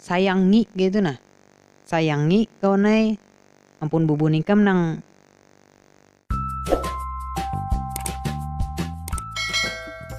Sayang ngik kaya itu nah. Sayang ngik kawan ai ampun bubun ikam nang.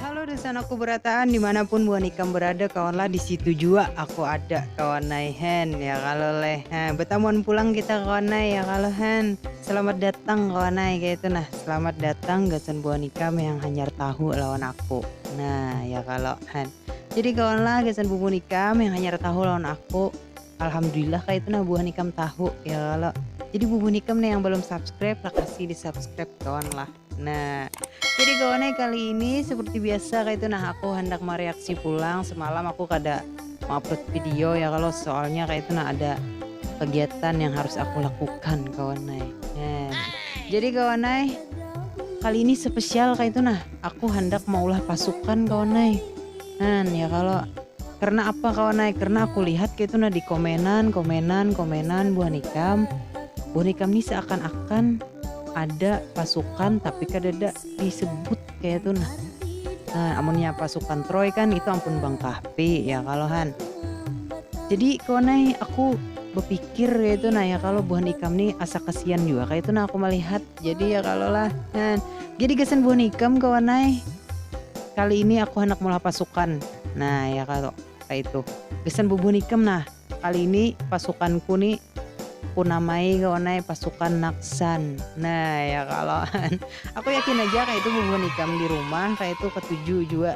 Halo Desan aku berataan dimana pun buhan ikam berada kawan lah disitu jua aku ada kawan ai hen ya kalo leh ha betamuan pulang kita kawan ai ya kalo hen selamat datang kawan ai kaya itu nah selamat datang gasan buhan ikam yang hanyar tahu lawan aku nah ya kalo hen. Jadi kawan lah gasan bubuhan ikam yang hanyar tahu lawan aku. Alhamdulillah kah itu nah buhan ikam tahu ya kalo. Jadi bubuhan ikam nih yang belum subscribe lah kasih di subscribe kawan lah. Nah, jadi kawan eh, kali ini seperti biasa kayak itu nah aku hendak mereaksi pulang semalam aku kada mengupload video ya kalau soalnya kayak itu nah ada kegiatan yang harus aku lakukan kawan eh. Nah, jadi kawan eh, kali ini spesial kayak itu nah Aku handak maulah pasukan kawan ai. Nan, ya kalo. Karna apa kawan ai, karna aku lihat kaitu nah di komenan, komenan, komenan buhan ikam, buhan ikam ni seakan-akan ada pasukan tapi kadada disebut kayatu nah. Nah, amunnya pasukan Troy kan itu ampun Bang Kahfi, ya kalo han. Jadi kawan ai, aku bepikir kayatu nah ya kalo, buhan ikam ni asa kasian jua kayatu nah aku malihat. Jadi ya kalau lah. Nah, jadi gasan buah nikam kawan ai. Kali ini aku handak meulah pasukan. Nah, ya kalau kayak itu. Gasan bubuh nikam nah. Kali ini pasukanku nih kunamai kawan ai pasukan naksan. Nah, ya kalau. Aku yakin aja kayak itu bubuh nikam di rumah kayak itu ketuju jua.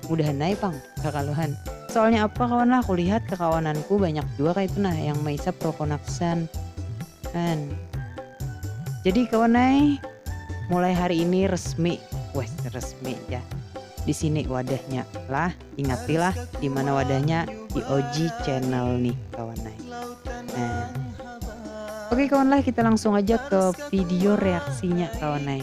Mudahan ai pang kakaluhan. Soalnya apa kawan lah kulihat kakawananku banyak jua kaitu nah yang maisap roko nafsan an. Jadi kawan ai mulai hari ini resmi weh resmi jar disini wadahnya lah ingati lah dimana wadahnya di OG channel nih kawan ai. Nah. Oke kawan lah kita langsung aja ke video reaksinya kawan ai.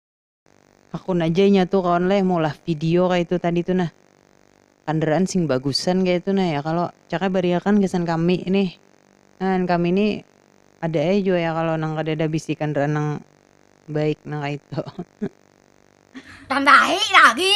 Hakun aja inya tu kawan leh maulah video kaya itu tadi tu nah. Kandaraan sing bagusan kaya itu nah ya kalo. Cak ai bariakan gasan kami nih. Nah kami nih ada ai jua ya kalo nang kadada bisi kandaraan nang baik nang kaya itu. Tambahi lagi.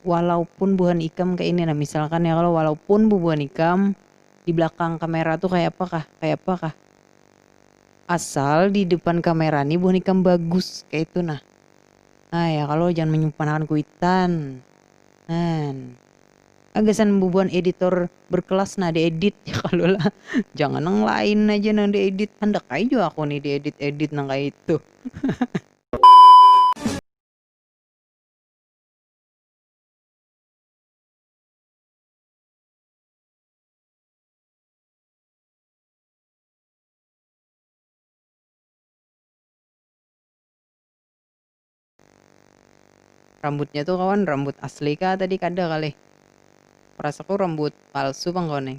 walaupun buhan ikam kaini nah misalkan ya kalo walaupun bubuhan ikam di belakang kamera tu kaya apa kah kaya apa kah asal di depan kamera ni buhan ikam bagus kaitu nah ha ya kalo jangan manyumpan akan kuitan han ha gasan bubuhan editor berkelas nah di edit ya kalo lah jangan nang lain haja nang di edit handak ai jua aku ni di edit edit nang kaitu. Rambutnya tu kawan rambut asli kah tadi kada kah leh, rasa ku rambut palsu pang kawan ai.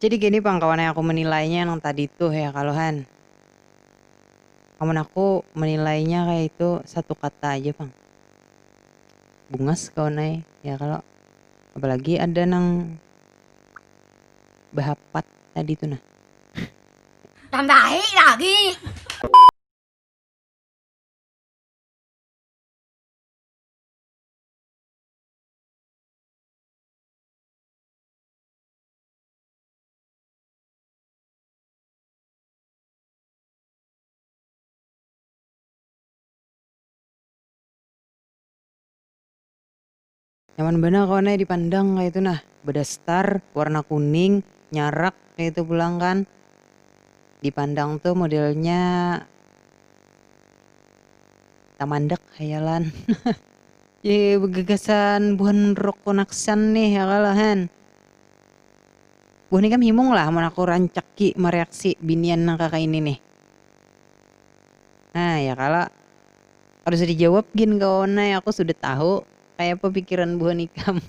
Jadi gini pang kawan ai aku menilainya nang tadi tuh ya kalo han. Amun aku menilainya kaya itu satu kata aja pang. Bungas kawan ai ya kalo. Apalagi ada nang behapat tadi tuh nah. Tambahi lagi. Nyaman banar kawan ai dipandang kaitu nah, bedastar warna kuning, nyarak kaitu pulang kan, dipandang tu modelnya tamandak hayalan. Di gagasan buhan rock konaksian nih ya kalo hen. Buhan ikam himung lah amun aku rancaki mareaksi binian nang kakaini nih. Nah ya kalo. Kada usah dijawab gin kawan ai aku sudah tahu kayapa pikiran buhan ikam.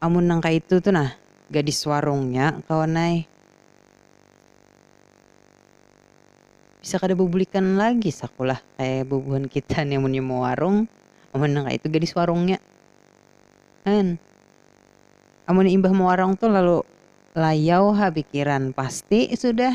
Amun nang kaitu tu nah gadis warung nya kawan ai. Bisa kada babulikan lagi saku lah kaya bubuhan kita ni amunnya mawarung amun nang kaitu gadis warung nya. An. Amunnya imbah mawarung tu lalu layau ha pikiran pasti sudah.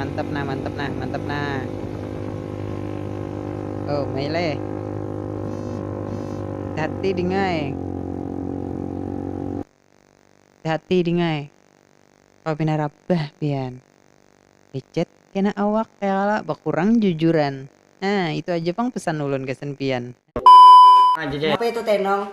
mantap nah mantap nah mantap nah oh mele hati dingai hati dingai kalau pina rabah pian lecet kena awak kala bakurang jujuran nah itu aja pang pesan ulun gasan pian. Napa itu tenong.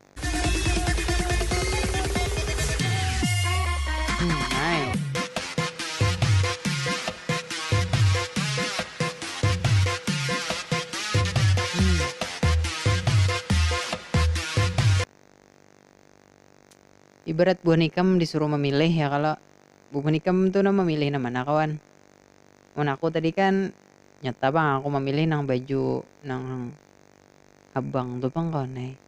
Ibarat buhan ikam disuruh mamilih ya kalo, buhan ikam tu nah mamilih nang mana kawan? Mun aku tadi kan nyata pang aku mamilih nang baju nang habang tu pang kawan ai.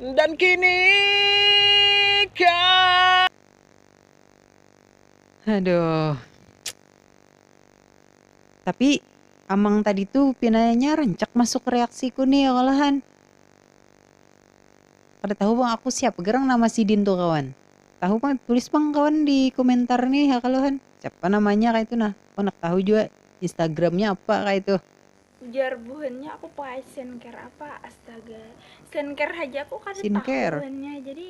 Dan kini kau Aduh. Tapi Amang tadi tuh pinanya rancak masuk reaksiku nih ya kalahan. Kada tahu bang aku siapa gerang nama sidin tuh kawan. Tahu bang tulis bang kawan di komentar nih ya kalahan. Siapa namanya kayak itu nah. Aku nak tahu juga Instagramnya apa kayak itu. Ujar buhannya aku pakai skincare apa astaga skincare haja aku kada skincare. tahu buhannya jadi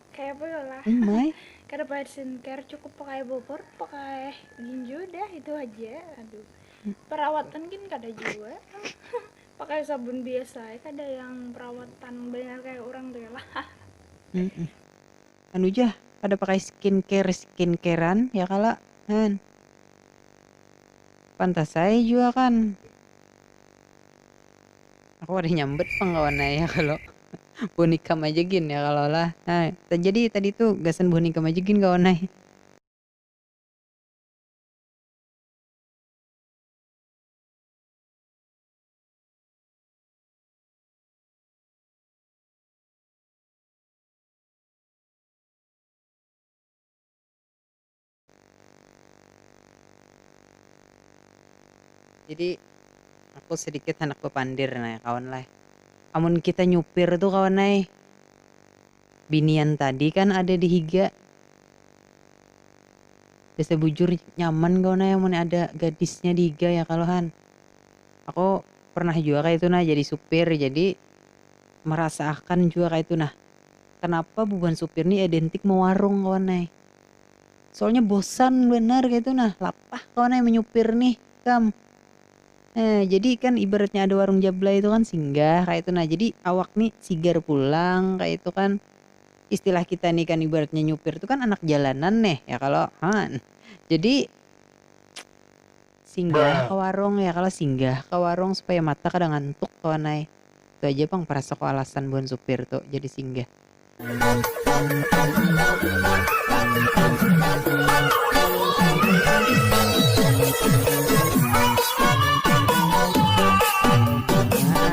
kayak apa ya lah oh kada pakai skincare cukup pakai bobor pakai ginjo dah itu aja aduh hmm. perawatan kan kada juga pakai sabun biasa kada yang perawatan banyak kayak orang tuh ya lah anu ja kada pakai skin care skin carean ya kala han pantas ai jua kan aku kada nyambet pang kawan ai ya kalo buhan ikam aja gin ya kalo lah ha jadi tadi tu gasan buhan ikam aja gin kawan ai. Jadi aku sedikit handak bapandir nah ya kawan lah. Amun kita nyupir tu kawan ai, binian tadi kan ada di higa. Biasa bujur nyaman kawan ai amun ada gadisnya di higa ya kalo han. Aku pernah jua kaitu nah jadi supir jadi merasa akan jua kaitu nah. Kenapa bubuhan supir ni edentik mewarung kawan ai. Soalnya bosan banar kaitu nah, lapah kawan ai menyupir nih ikam. Nah, jadi kan ibaratnya ada warung jablay tu kan singgah kaitu nah, jadi awak ni sigar pulang kaitu kan. Istilah kita ni kan ibaratnya nyupir tu kan anak jalanan neh, ya kalo? Haan. Jadi. Singgah ka warung, ya kalo singgah ka warung supaya mata kada ngantuk kawan ai. Itu aja pang parasako alasan buhan supir tu jadi singgah. Nah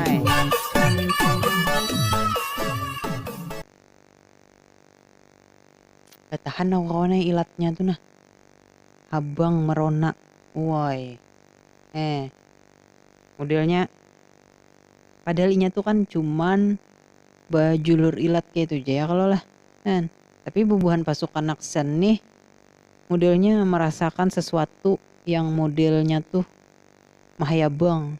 ai. Batahan aku kawan ai ilatnya tu nah. habang merona uoi eh modelnya padahal inya tu kan cuman bajulur ilat kaitu ja ya kalo lah kan tapi bubuhan pasukan Naksen nih modelnya merasakan sesuatu yang modelnya tuh mahayabang.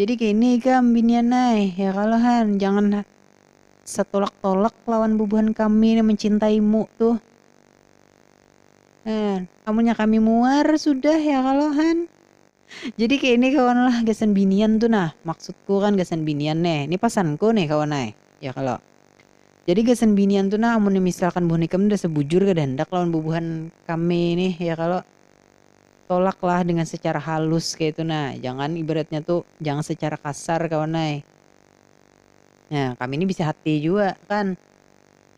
Jadi kaini ikam binian ai, ya kalo han, jangan satolak-tolak lawan bubuhan kami nang mancintaimu tuh. Nah, amunnya kami muar sudah ya kalo han. Jadi kaini kawan lah gasan binian tuh nah, maksudku kan gasan binian nih, ni pasanku nih kawan ai, ya kalo. Jadi gasan binian tuh nah amunnya misalkan buhan ikam nda sabujur kada handak lawan bubuhan kami nih ya kalo. tolak lah dengan secara halus kaya itu nah jangan ibaratnya tu jangan secara kasar kawan ai nah kami ni bisi hati jua kan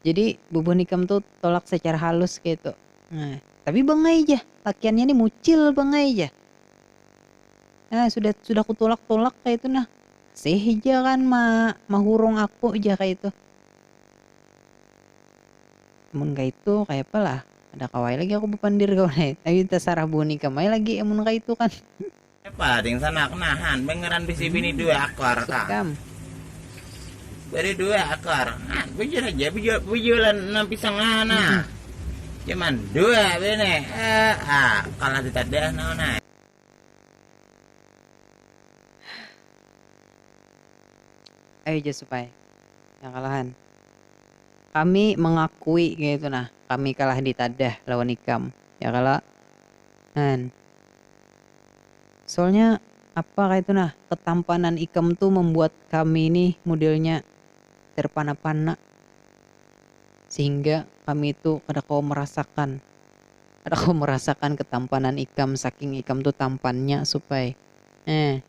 jadi bubuhan ikam tu tolak secara halus kaya itu nah tapi bangai ja lakiannya ni mucil bangai ja nah sudah sudah ku tolak tolak kaya itu nah masih ja kan ma mahurung aku ja kaya itu. Amun kaitu kayapa lah. Kada kawa ai lagi aku bapandir kawan ai. Tapi tasarah buhan ikam ai lagi amun kaitu kan. Kayapa lah ting sanak nahan bangaran bisi bini dua ekor ka. Bini dua ekor. Nah bujur haja bujulan nang pisang ha nah. Cuman dua bini. Haa kalah di tadi ah naon ai. Ayu ja Supai. Yang kalahan. Kami mangakui kayatu nah, kami kalah ditadah lawan ikam. Ya kalo? Hn. Soalnya apa kayatu nah, ketampanan ikam tu mambuat kami ni modelnya terpana-pana sehingga kami tu kada kawa marasakan. Kada kawa merasakan ketampanan ikam saking ikam tu tampannya Supai. Heh.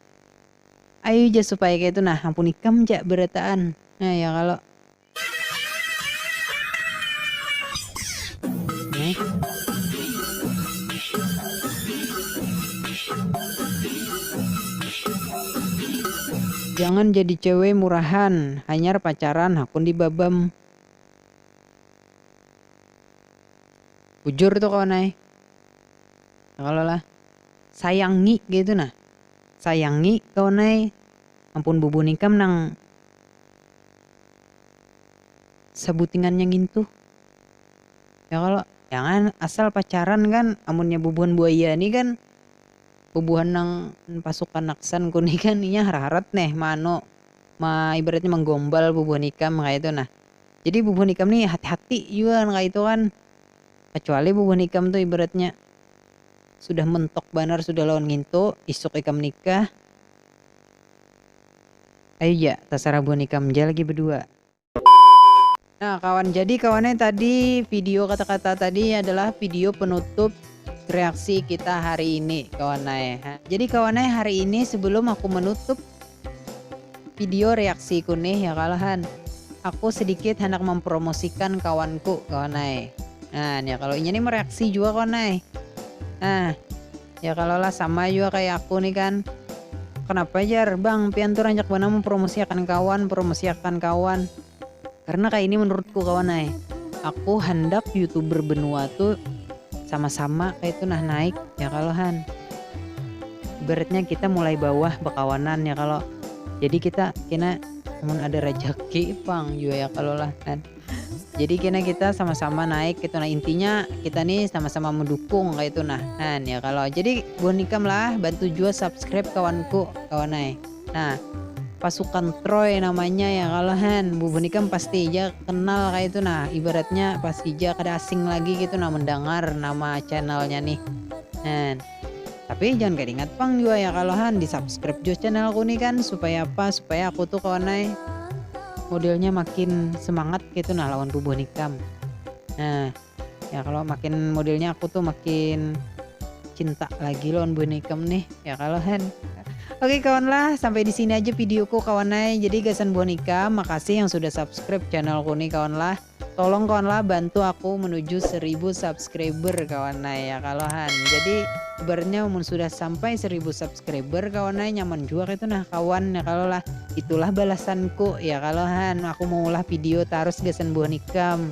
Ayu ja Supai kaya itu nah, ampun ikam ja berataan. Heh ya kalo. Jangan jadi cewe murahan, hanyar pacaran hakun di babam. bujur tu kawan ai ya kalo lah sayangi kaitu nah sayangi kawan ai ampun bubun ikam nang sabutingannya ngintu ya kalo jangan asal pacaran kan amunnya bubuhan buaya ni kan bubuhan nang pasukan aksan ku ni kan inya harat harat neh ma anu ma ibaratnya manggombal bubuhan ikam kaitu nah Jadi bubuhan ikam ni hati-hati jua nang kaya itu kan. Kacuali bubuhan ikam tu ibaratnya sudah mentok banar sudah lawan ngintu, isuk ikam nikah, ayu ja tasarah buhan ikam ja lagi bedua. Nah kawan, jadi kawan e tadi video kata-kata tadi adalah video penutup reaksi kita hari ini kawan ae. Jadi kawan ae hari ini sebelum aku menutup Video reaksiku nih ya kalo han. Aku sedikit handak mempromosikan kawanku kawan ai. Nah nih ya kalo inya nih mereaksi jua kawan ai. Nah ya kalo lah sama jua kaya aku nih kan. Kenapa jar bang pian tuh rancak banar mempromosiakan kawan promosiakan kawan. Karena kaya ini menurutku kawan ai, aku handak youtuber benua tu sama-sama kaya itu nah naik ya kalo han. Ibaratnya kita mulai bawah bekawanan ya kalo, jadi kita kena amun ada rejeki pang jua ya kalo lah kan. Jadi kena kita sama-sama naik kaya itu nah, intinya kita ni sama-sama mendukung kaya itu nah han ya kalo. Jadi buhan ikam lah bantu jua subscribe kawanku kawan ai. Nah, pasukan Troy namanya ya kalau han bubu ni kan pasti ja kenal kayak itu nah ibaratnya pasti ja kada asing lagi gitu nah mendengar nama channelnya nih han tapi jangan kada ingat pang juga ya kalau han di subscribe juga channelku nih kan supaya apa supaya aku tuh kawan ay modelnya makin semangat gitu nah lawan bubuh nikam nah ya kalau makin modelnya aku tuh makin cinta lagi lawan Buan Ikam nih ya kalau kan Oke kawan lah, sampai di sini aja videoku kawan ay. Jadi gasan buan Ika, makasih yang sudah subscribe channelku nih kawan lah. Tolong kawan lah bantu aku menuju 1000 subscriber kawan ay ya kalau han. Jadi bernya mun sudah sampai 1000 subscriber kawan ay nyaman juga itu nah kawan ya kalau lah. Itulah balasanku ya kalau han. Aku mau ulah video terus gasan buan ikam.